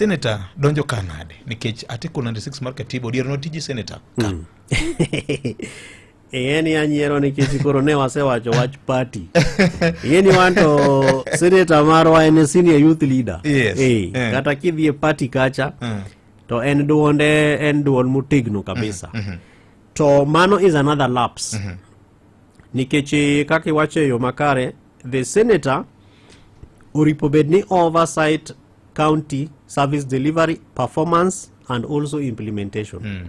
Senator donjo ka nade? Nikech Article 96 mar Katiba odiero notiji Senator ka. Mm. Iyeni anyiero nikech koro ne wasewacho wach party. Iyeni wan to Senator marwa en senior youth leader. Yes. Hey, eh, yeah. Kata kidhi e party kacha yeah. Mm. to en duonde en duon motegno kabisa. Mm -hmm. To mano is another lapse. Mm -hmm. Nikech eh, kaka iwacho e yo makare, the senator oripo bed ni oversight county service delivery performance and also implementation mm.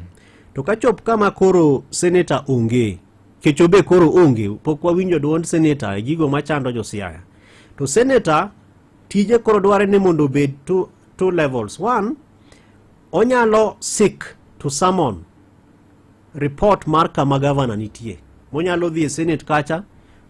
to kachop kama koro senator onge kecho be koro onge pok wawinjo duond senator e gigo machando josiaya to senator tije koro dware ni mondo obed two, two levels one onyalo sik to summon report mar kama gavana nitie monyalo dhi e senate kacha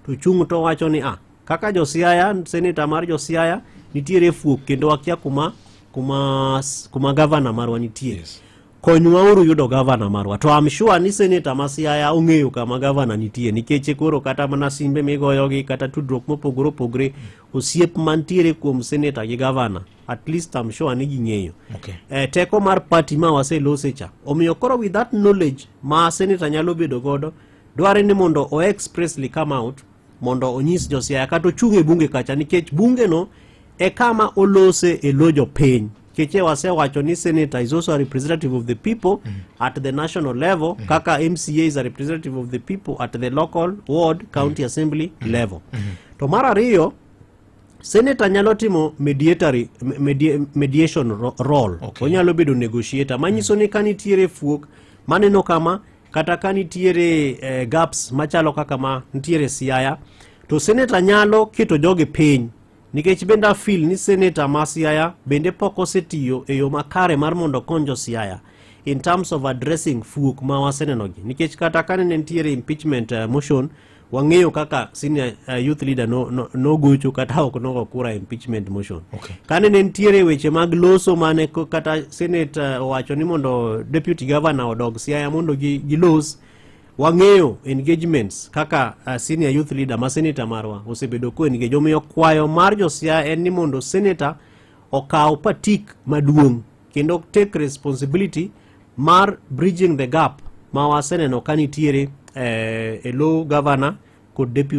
to chung' to wacho ni ah Kaka Josiaya, seneta mar Josiaya nitiere fuok kendo wakia kuma kuma kuma gavana marwa nitie. Yes. Konywauru yudo gavana marwa. To I'm sure ni seneta ma Siaya ong'eyo kama gavana nitie nikech koro kata mana simbe migoyogi kata tudruok mopogore opogore osiep mantiere kuom seneta gi gavana at least I'm sure ni ging'eyo. Okay. Eh, teko mar party ma waselose cha. Omiyo koro with that knowledge ma seneta nyalo bedo godo dware ni mondo o expressly come out mondo onyis Josiaya kata ochung' e bunge kacha nikech bungeno e kama olose e lo jopiny keche wasewacho ni senator is also a representative of the people mm -hmm. at the national level mm -hmm. kaka mca is a representative of the people at the local ward county mm -hmm. assembly mm -hmm. level mm -hmm. to mar ariyo senator nyalo timo mediatory medi, mediation role okay. onyalo bedo negotiator manyiso mm -hmm. ni ka nitiere fuok maneno kama kata ka nitiere eh, gaps machalo kaka ma nitiere Siaya to seneta nyalo keto jogi piny nikech bende afil ni seneta ma Siaya bende pok osetiyo e yo makare mar mondo okony jo Siaya in terms of addressing fuok ma wasenenogi nikech kata ka ne nitiere impeachment uh, motion wang'eyo kaka senior uh, youth leader nogocho no, no kata ok nogo kura impeachment motion okay. kane ne nitiere weche mag loso mane kata senate uh, owacho ni mondo deputy governor odog siaya mondo gilos gi wang'eyo engagements kaka uh, senior youth leader ma senator marwa osebedo ko engage omiyo kwayo mar josiaya en ni mondo senator okaw patik maduong' kendo take responsibility mar bridging the gap ma waseneno ka nitiere eh, e low governor kod deputy